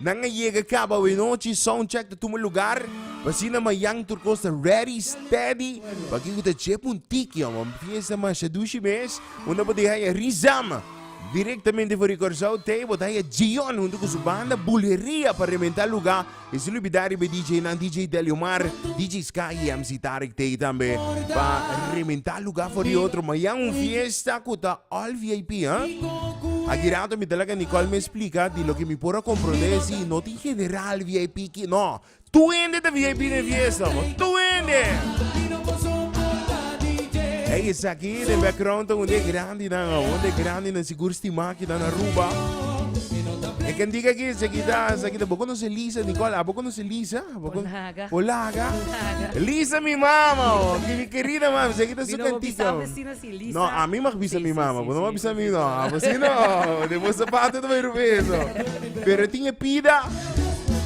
Nan a yega cabo awe-nochi, soundcheck ta tuma lugar, p'asina mayan tur cos ta ready, steady, p'aki cu ta dje puntichi hombre, un fiesta mashadushi mes, un ta por deha ya Rizam, directamente for di Corsou, tei bota haya Djion hunto cu su banda Buleria pa rebenta lugar, y sin olbida riba e DJ nan, DJ Deliomar, DJ Sky y MC Tarek tei tambe, pa rebenta lugar for di otro, mayan un fiesta cu ta. All vip ha? Aki rato mi ta laga Nicole mi explica di loke mi por a comprende e si no tin general vip ki no tur hende ta vip den fiesta bo tur hende ey esaki den background ta un den grandi nan ho un den grandi nan sigur stima aki nan Aruba e cantica aki esaki ta esaki ta bo conoce Lisa Nicole abo conoce Lisa abo con o laga Lisa mi mama ho mi querida mami esaki ta su cantica ho. No, a mi mag bisa mi mama, bo no mag bisa mi no. A bo si no, de bo zapato te bay rupe eso. Pero tin e pida,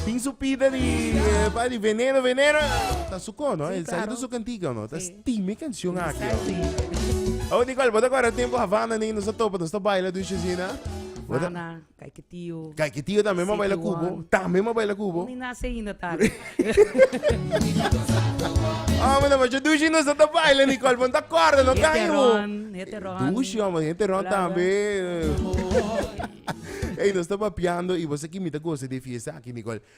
tin su pida di, eh, pa di veneno, veneno. Ta su cono, Sí, el sale claro. de su cantiga, no. Ta Sí. stime canción aquí. Exactly. Oh, Nicole, bo te acuerda tempo Havana ni nos a topa, nos ta baila dushezina. Bo te- Havana. Kay ki tio tambe m'a baila ku bo. Tambe m'a baila ku bo. Mi nase ainda tarde. Hombre, no, yo dushi no está baila ni cual, ponta corda, no cae. Heteron, heteron. Dushi, hombre, heteron también. Hey, no está papiando y vos aquí mita goce de fiesta aquí, Nicole.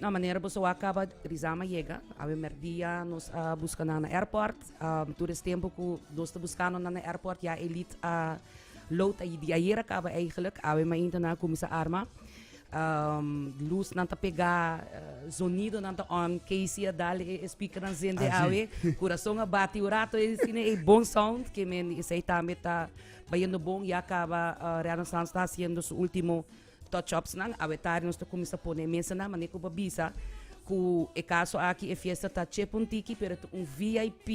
Na manera boso a kaba Rizam a yega awe mèrdia nos a buska nan na airport tur es tempu ku nos ta buskando nan na airport ya Elite a load ayi di ayer a kaba eigelik awe mainta nan a kuminsá a arma lusnan ta pegá zonidonan ta on Keisy a dal e speakernan zende awe kurason a bati un rato e sini ei bon sound kimen esei tambe ta bayendo bon ya kaba Rihanna Sons ta hasiendo su último. Touchupsnan, Awetari nos ta kuminsá pone e mesanan manera ku bo bisa. Ku e kaso aki e fiesta ta chepa un tiki pero ta un vip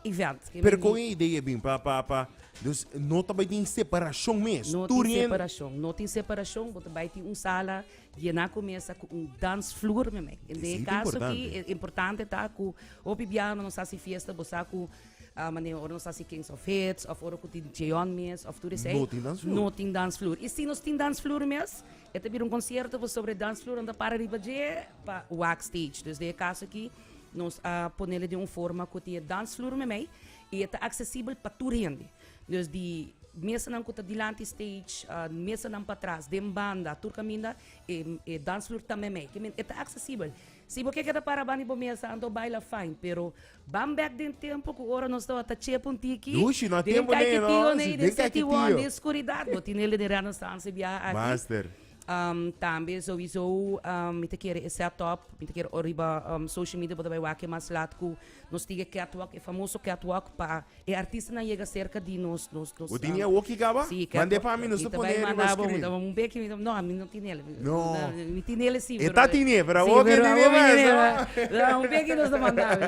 event. Pero kon e idea a bin pa pa pa dus no ta bai tin separashon mes? No Tur tin yen separashon, no tin separashon. Bo ta bai tin un sala yená ku mesa ku un dansfloer, meme. Den e Esei ta kaso aki importante. e importante ta ku hopi biaha nos hasi fiesta bo sa ku a manera ora nos ta hasi kings of hits of ora ku tin cheon mes of tur esei No tin dans floor. no tin dans floor i si nos tin dans floor mes e ta bira un concierto pues sobre dans floor a ta para riba dje pa wax stage dus den e caso aki nos a ponele den un forma ku tin e dans floor meimei i e ta accesibel pa tur hende dus di mesanan ku ta dilanti stage a mesanan patras den banda tur kaminda e e dans floor ta meimei kimin e ta accesibel. Si bo ke keda para ban di bo mesa anto baila fine pero ban bek den tempo ku ora nos tabata txep un tiki Dushi no a den tempo ney no Kaikitiyo ney si den den Seti Won Kaikitiyo. den Skuridad bo tinel den e Renaissance e biaha aki Master. Am tambe souiso mi ta kere e set up mi ta kere ora riba am social media bo ta bai wak e mas lat ku. Nos tige catwalk, e famoso catwalk pa e artistanan yega cerca di nos, nos, nos. Bo tin e awokki caba? Si, catwalk. Mande pa mi, nos ta Mi ta pone bai riba manda bo, screen. dame un beki, mi ta, no, ami no tinel. No. Mi tinel e si, E pero. ta tine, pero awor si, no pero tine awor mi mas, tinel, no. ah. Dame un beki nos ta manda bo.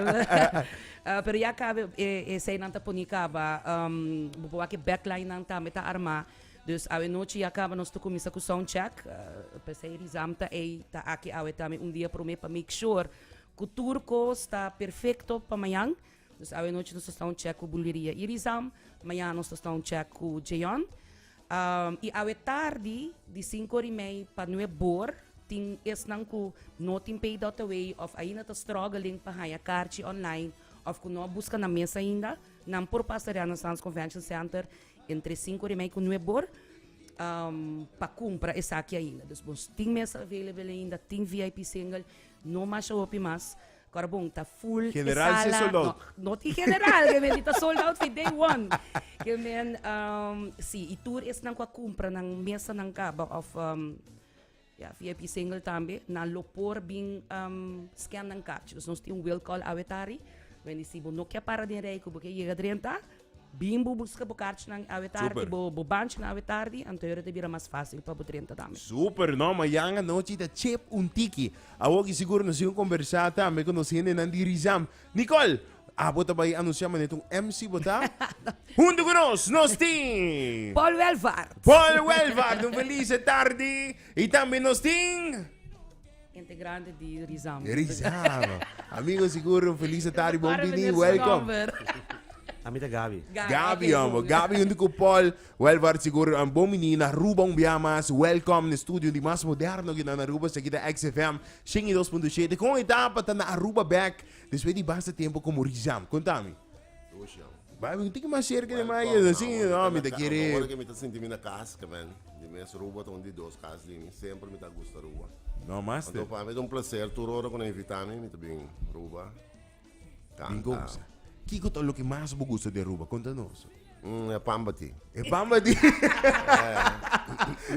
Ah, pero ya caba e, e seinan ta poni caba, um, bo por wak e backline nan tambe ta arma. Dus awe nochi ya caba nos ta cuminsa cu soundcheck, ah, p'esei Rizam ta ei, ta aki awe tambe un dia prome pa make sure, Ku tur kos ta perfekto pa mañan. Dus awenochi nos ta sta un chèk ku Bulveria Irizam. Mañana nos ta sta un chèk ku Jeyon. I awe tardi di sinku ora i mei pa nue bor tin esnan ku no tin pay dot away òf ainda ta struggling pa haña karchi online òf ku no a buska nan mes ainda, nan por pasa Renaissance Convention Center entre sinku ora i mei ku nue bor pa kumpra esaki ainda. Dus bo tin mesa available ainda, tin VIP single. No mas hopi mas Carbon ta full e General sala. General Sold Out. No, not i general, ke men ta sold out fi day one. Ke men, um, si, i tur esnan ku a kumpra nan mesa nan kaba of um, ja, VIP single tambe, nan lo por bin um, scan nan kaartje. Dus nos tin un will call awe tari. Men di si bo no ke para den rij ku bo ke yega drenta, Bin bo buska bo karchinan awe tardi, bo banchinan awe tardi, anto yora ta bira mas fásil pa bo drenta tambe. Súper! No, mañan anochi ta chep un tiki. Awoki sigur nos tin kombersá tambe ku nos hendenan di Rizam. Nicole, abo ta bai anunsiá manera ta un MC bo ta? Huntu ku nos, nos tin. Paul Welvaart. Paul Welvaart, un felis tardi. I tambe nos tin. Hente grandi di Rizamba. Rizamba. Amigo sigur un feliz Natal y bon bini. Welcome. A mi ta Gabi. Gabi, amo. Gabi junto con Paul. Wel, waar sigur aan bon mini na Aruba un bia mas. Welcome na studio di mas moderno kita na Aruba. Sa kita XFM 102.7. Con etapa ta na Aruba back. Despues di basta tempo como Rizam. Contami. Ocean. Bai mi tin mas cerca de mai es así no mi ta quiere. Ahora que mi ta sinti mi na cas caben di mes Aruba ta un di dos cas di mi sempre mi ta gusta Aruba. No master. Anto pa mi ta un placer tur ora cu na invita mi mi ta bin Aruba canta. Bin goza. Kico ta loke mas bo gusta di Aruba? Conta nos. Mm, e pamba ti. E pamba ti.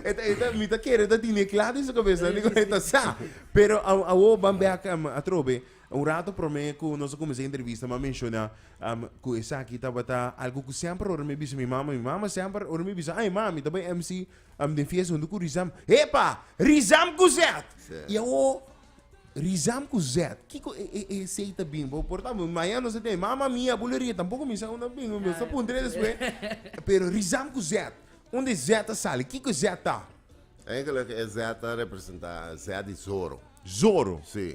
eta eta mi ta quiere ta tine claro en su cabeza ni con eta sa. Pero a a wo bambe a atrobe. Un rato prome ku nos a kuminsá e entrevista mi a menshona ku esaki tabata algu ku semper ora mi a bisa mi mama, mi mama semper ora mi a bisa ai ma mi ta bai MC den fiesta huntu ku Rizam, epa! Rizam ku Zèt! I awo Rizam ku Zèt kiko e e esei ta bin? Bo por tabata mañana nos ta tene mama mia, buleria tampoko mi sa unda bin, mi sa puntra e despues pero Rizam ku Zèt, unde Zèt a sali? Kiko Zèt ta? Eigenlik e Zèt ta representá Zèt di Zorro. Zorro? Si.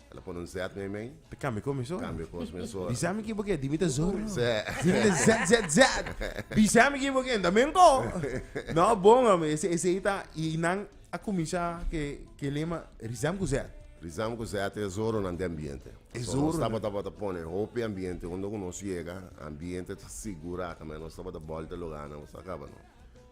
El a pone un zet na e mei. Ta cambia con mi sor. Cambia cos mi sor. Bisa mi kibo ke di mi ta zorro. Sè. Di mi ta zet zet zet. Bisa mi kibo ke ta men ko. No bon hombre ese esei ta y nan a cuminsa ke ke lema rizam cu zet. Rizam cu zet e zorro nan den ambiente. E zorro nan. So nos taba tabata pone hopi ambiente unda cu nos yega ambiente ta sigura ta nos tabata bolta loganan bo sa caba no.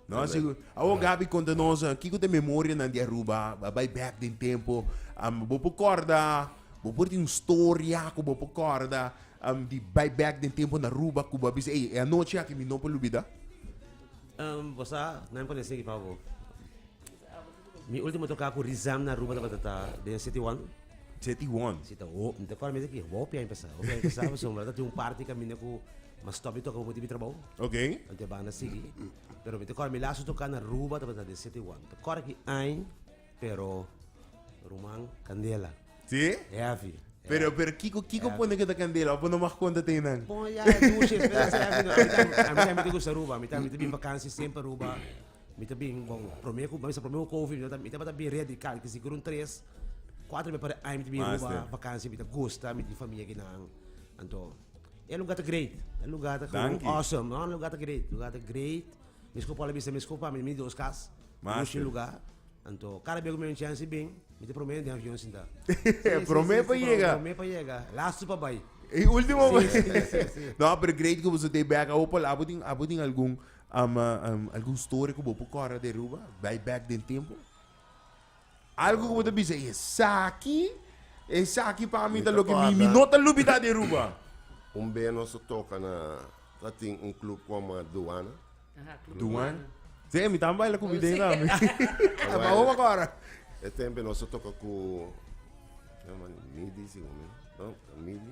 No a sigur. Awor Gaby konta nos kiko ta memorianan di Aruba, a bai bèk den tempo. Am bo por kòrda, bo por tin un storia ku bo por kòrda am di bai bèk den tempo na Aruba ku bo a bisa ey e anochi aki mi no por lubida? Am bo sa nan pone esei pa bo. Mi ultimo toca cu Rizam na Aruba tabata ta den City One. City One? Si ta ho, mi ta acorda mester ki hopi aña pasa. Hopi aña pasa, pasobra mi tabata tin un party caminda cu mas stop di toca papo di mi trabou. Ok. Anto e banda sigui. Pero mi ta acorda mi laatste toca na Aruba tabata den City One. Mi ta acorda ki aña, pero ruman, candela. Si? Heavy. Pero, pero kico, kico pone cu ta candela? Apo no mag conta te nan? Bon, ya, dushi, espresso, heavy. No, a mi ta, a mi ta, a mi ta gusta Aruba. A mi ta, a mi ta bin vakantie semper Aruba. Mi ta bin bon, prome ku mester prome ku kofi mi ta mi tabata bin redi kal ki si kurun tres kuater bes per aña mi ta bin Master. Aruba bakansia mi ta gusta mi tin famia akinan anto e luga ta great e luga ta Danki. gou awesome no e luga ta great e luga ta great mi skop al a bisa mi skop ami mi dos kas Master. mi ushi luga anto kada bes ku mi un chansi bin mi ta prome den avion sinta E prome pa yega. prome pa yega lastu pa bai E ultimo Si, si, si, si. No, pero great ku boso dey bek. Awo Paul, abo tin abo tin algun Ama algun story ku bo por kòrda di Aruba, bai bèk den tempu? Algu ku bo ta bisa, esaki, esaki pa mi ta loke mi mi no ta lubidá di Aruba? Un bes nos a toka na, ta tin un klub ku a m'a Duana. Duan? Sey, mi tambe baila kubi den esaki. A Awèl, Mahoma ku ora. e tempu nos a toka ku, mi a Midi, si ku mi, no, Midi.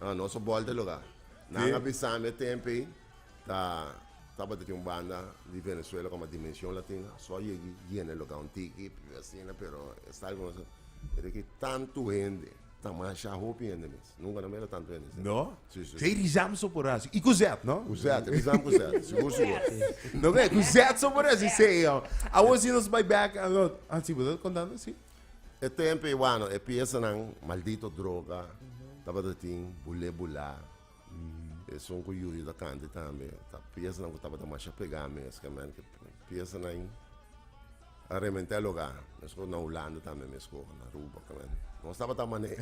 Ah, nos a bòlta e lugá. Nan a bisam e tempu ei, ta tabata tin un banda di Venezuela kòm a Dimension Latina, so a yegi yena e lugá un tiki, asina, pero e sta algu nos a mira ki tantu hende, ta masha hopi hende mes, nunka no a mira tantu hende asina. No? Sí, sí. Sey Rizam so por hasi, i ku zèt, no? Ku zèt, Rizam ku zèt, sigur, sigur. No, be, ku zèt so por hasi sey, oh. Awor si nos bai bèk, alò, ah, si bo ta kontando, si. E tempo e wano, e pieza nan, maldito droga, tabata tin, bule bula. Mm. E son ku yuyu da kanti tambe. Ta pieza nan ku tabata masha pega mes, ka men ke pieza nan a remente loga. Mes ko na Hulanda tambe mes ko na Aruba, ka men. Nos tabata mane,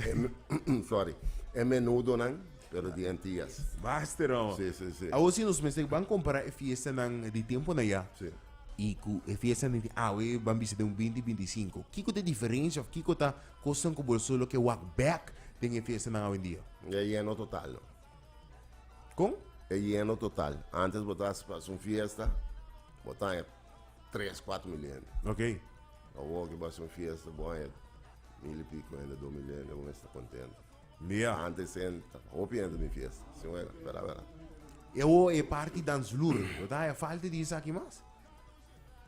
sorry, e menudo nan, pero di Antillas. Master, oh. Sí, sí, sí. Awo si nos mester ban kompara e fiesta nan di tempo na ya. Sí. I ku e fiesta di awe ban bisa den un binti binti sinku. Kiko ta e diferensia òf kiko ta kosnan ku bo solo ke wak bèk den e fiestanan awendia? E yeno total no. Kon? E yeno total. Antes bo ta hasi un fiesta, bo ta haña tres, kuater mil hende. Ok. Awor ke bo hasi un fiesta, bo haña mil i piko hende, dos mil hende, bo mester kontento. Dia antes en hopi hende bin fiesta si wena verdad verdad. E ho e party dance floor lo ta haya falta di esaki mas.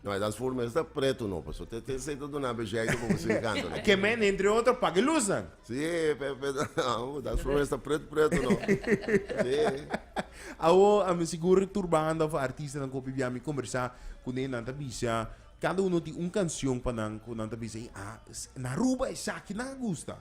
No e dance floor mes ta preto no paso te te esey ta duna belleza pa bosey canto no. Ke men entre otro paga e luz nan. Si pe pe oh dance floor mes ta preto preto no si. Awo a mi sigur tur banda of artista nan ku hopi bia mi kombersa ku ne nan ta bisa kada uno tin un kancion pa nan ku nan ta bisa ey ah na Aruba esaki nan a gusta.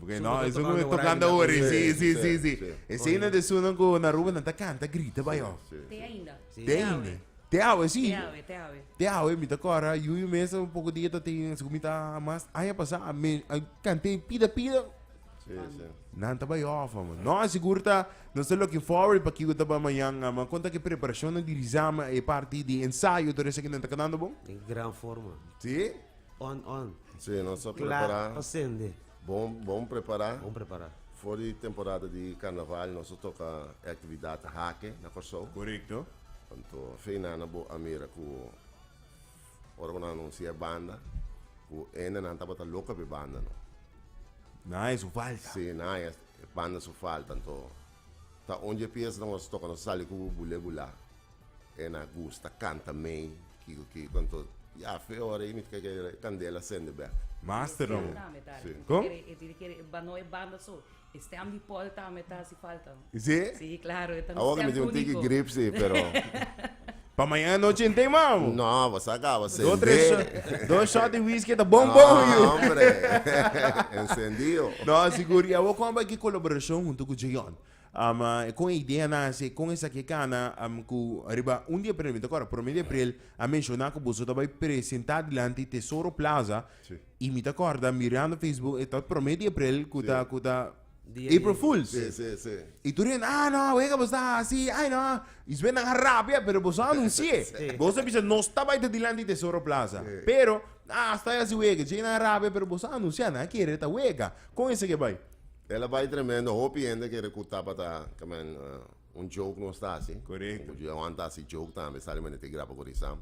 Porque no eso cu tocando ahora si si si si ese uno de su nan cu na Aruba nan ta canta grita bay oh Te ainda. te ainda te awe si Te awe, te awe. te awe mi ta cora yuyu mes un poco dia ta tin así cu mi ta mas aña pasa a me a cante pida pida nan ta bay off amo no sigur ta nos ta looking forward pa kico ta bay mañan ama con ta ki preparacionnan di Rizama e parti di ensayo todo eso kinan ta cantando bon Di gran forma. si. On on. Sí, nos a prepará. Kla pa sende. Bon bon prepará. Bon prepará. For di temporada di karnaval nos a toka e aktividat hake na Kòrsou. Korekto. Anto fe nan bo a mira ku ora ku nan anunsia e banda ku ene nan tabata loka pa e banda no. Nan haya su falta. Sí, nan haya e banda su falta anto ta un dje pies nos a toka nos a sali ku Bulé Bulá. E na gusta canta mey kico kico anto ya fe ora y mi ta kere e candela sende bek. Master no bo. Con? Sí? Awoka mi tin un tiki grip si pero. Pa mañana anochi en tin man bo. No bo sa caba sende. Do tres shot dos shot di whisky ta bon bon yu. No hombre encendido. No sigur y awor con a bay ki colaboracion hunto cu Jayon. Um kon e idea nace? Kon esaki e cana um cu riba un di april, mi ta acorda prome di april a menciona cu boso ta bay presenta dilanti Tesoro Plaza Sí. y mi ta acorda mirando Facebook e ta prome di april cu ta Sí. cu ta Dia di- April Fools. Sí, sí, sí. Y tur hende, ah no, awe ka boso ta haci, ay no, y su ben nan a rabia, pero boso a anunci'e, Sí. boso a bisa nos ta bay ta dilanti Tesoro Plaza, Sí. pero ah asta a haci wega, djey nan a rabia pero boso a anuncia, nan a kere ta wega, con esaki a bay? El a bai tremendo, hopi hende kere ku tabata kamen uh, un joke nos ta hasi. Correcto. Ku Johan ta hasi joke tambe, sali men te grapa kuri sam.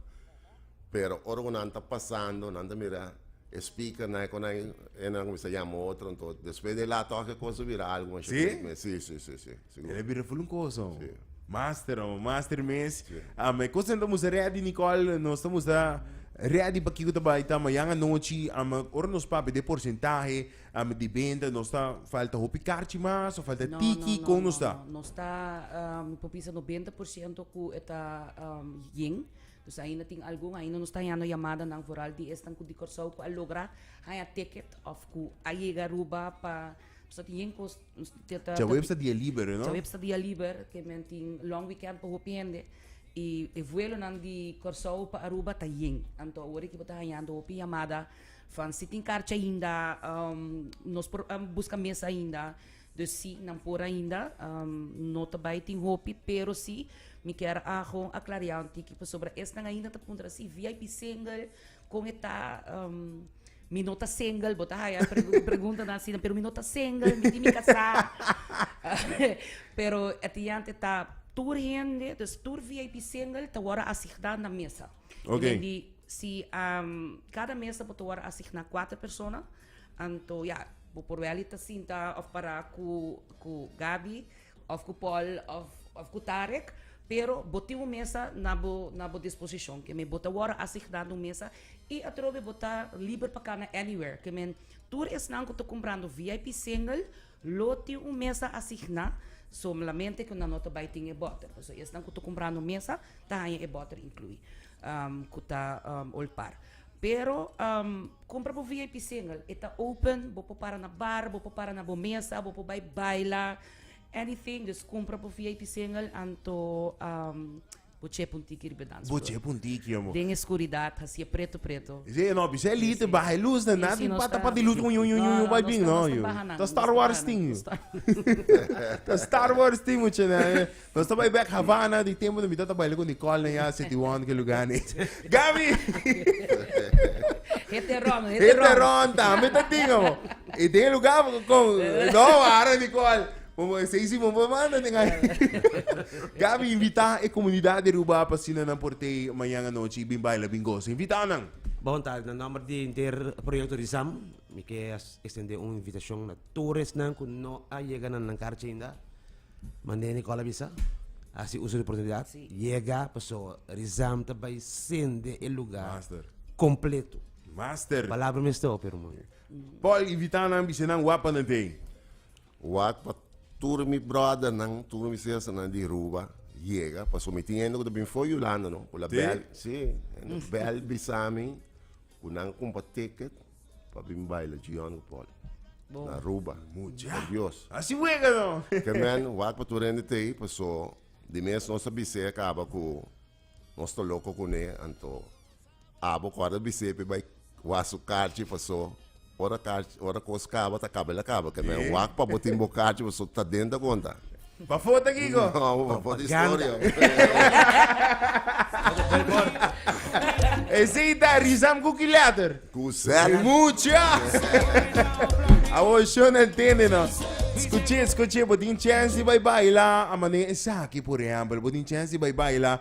Pero ora ku nan ta pasando, nan ta mira e speaker na kon ai e nan kumisa yama otro, ento despues de la toke kosa bira algo mas Sí? shakrik men. Si, si, si, si. Sigur. Ele bira full un cosa. Sí. Master, oh, master mes. Sí. Ah, me cosa ta musta ready Nicole, nos ta musta ready pa kiko ta bai ta mañana nochi, ama ora nos papi de porcentaje, Ami di benta nos ta falta hopi karchi mas o falta tiki kon nos ta? No, no, no, no, no. Nos ta um, mi por bisa no benta por ciento cu e ta um, yin. Dus ainda tin algun, ainda nos ta hañando yamadanan, vooral di esnan cu di Curaçao cu a logra haña ticket of cu a yega Aruba pa... Nos ta tin yin cos... nos ta- ta- ta- Djaweps ta dia liber, you know? Djaweps ta dia liber, ke men tin long weekend pa hopi hende. I e vuelonan di Curaçao pa Aruba ta yin. Anto awor aki bo ta hañando hopi yamada, Van, Si tin karchi ainda nos por buska mes ainda, dus si nan por ainda, no ta bai tin hopi, pero si mi kier a gewoon a klariao un tiki pasobra esnan ainda ta puntra si vip single kon e ta, mi no ta single bo ta haya e preguntanan asina pero mi no ta single mi tin mi kasá pero e diante ta tur hende, dus tur vip single ta wòrdu asigdá na mesa. Ok. Men di si am, cada mesa bo ta wòrdu asigná kuater persona, anto ya, bo por wèl ta sinta òf pará ku ku Gaby, òf ku Paul, òf òf ku Tarek, pero bo tin un mesa na bo na bo disposishon. Ke men bo ta wòrdu asigná na un mesa i atrobe bo ta liber pa kana anywhere. Ke men tur esnan ku ta kumprando VIP single, Lo tin un mesa asigná, solamente ku nan no ta bai tin e bòter. Pasobra esnan ku ta kumprá no mesa ta haña e bòter inkluí, ku ta olpar. Pero kumpra bo VIP single, e ta open, bo por para na bar, bo por para na bo mesa, bo por bai baila, anything. Dus kumpra bo VIP single anto. Bo che pun tiki riba dans Bo che pun tiki amo. Den e skuridat hasi e preto preto. Ese e no bisha e lit e baha e lus na na tin pa tapa di lus un un un un bai bin no yu ta star wars tin yu ta star wars tin mucha na nos ta bai bek Havana di tempo nan mi ta ta baila ku Nicole nan ya city one ke luga ni Gaby Hit e ron hit e ron hit e ron ta mi ta tin amo y den e luga kon no wara Nicole Bo por esei si bo por manda den ai. Gaby, invitá e komunidat di Arúba pa asina nan por t'ei mañan anochi i bin baila, bin gosa. Invitá nan. Bon ta, na nòmber di henter proyekto di Sam, mi ke estendé un invitashon na tur esnan ku no a yega na nan karchi ainda. Mandé Nicole a bisa, hasi uso di oportunidat, yega, pasó di Sam ta bai sende e lugá kompletu. Master. Palabra mester hopi, ruman. Paul, invitá nan, bis'é nan wak pa nan t'ei. Wak pa tur mi brothernan, tur mi sisternan di Aruba yega, pasobra mi tin hende ku ta bin for Yulanda no, ku la bel, si, hende bel bisa mi ku nan kumpa ticket pa bin baila Gion ku Paul na Aruba, por dios. Ke men, wak pa tur hende ta ei, paso di mes nos a bisa e a kaba ku nos ta loko kuné, anto Abo ku a ta bis'é p'e bai wak su karchi paso ora karchi ora kos kaba ta kaba el a kaba kende a wak pa bo tin bo karchi paso ta dent a konta. Pafo ta kiko? No abo pafo ta historia. Esei ta Rizam ku ki letter? Ku zet. Mucha! Awor Shona ntende nos. Skuché, skuché, bo tin chèns di bai baila a manera esaki, por ehèmpel, bo tin chèns di bai baila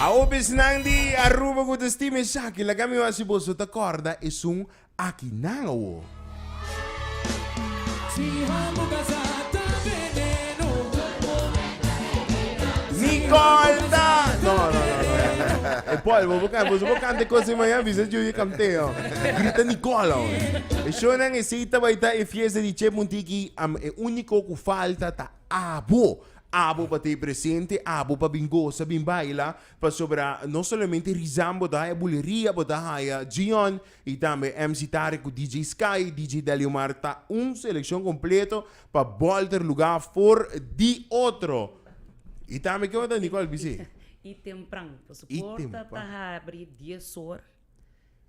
Awo bisnan di Aruba ku ta stima esaki, laga mi oa si boso ta kòrda esun aki nan awo. Mi kòrda! No, no, no, no, no, no. E pòlbo bo kanta, boso bo kanta e kosa i maya bisa Junior Camteo. Di grita Nicole awor. E shownan esey ta bai ta e fiesta di Chep Muntiki am e unico cu falta ta abo. Abo pa ta e presente, abo pa bin goza, bin baila, pasobra no solamente Rizan bo ta haya, Buleria bo ta haya, Gion y tambe MC Tarek cu DJ Sky, DJ Deliomar ta un seleccion completo pa bolter lugar for di otro. Y tambe kico ta Nicole bisey? Y tempran, pues porta ta habri dies or.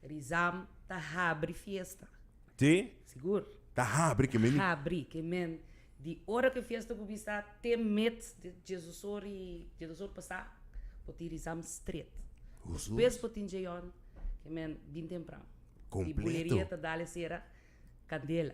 Rizam ta habri fiesta. Si? Sigur. Ta habri ke meni. Ta habri ke men di ora ke fiesta por bisa te met di Jesusor i Jesusor pasa por tin Rizam stret. Despues por tin Jeyon ke men bin tempran. Kompleto. I buleria ta dale sera kandela.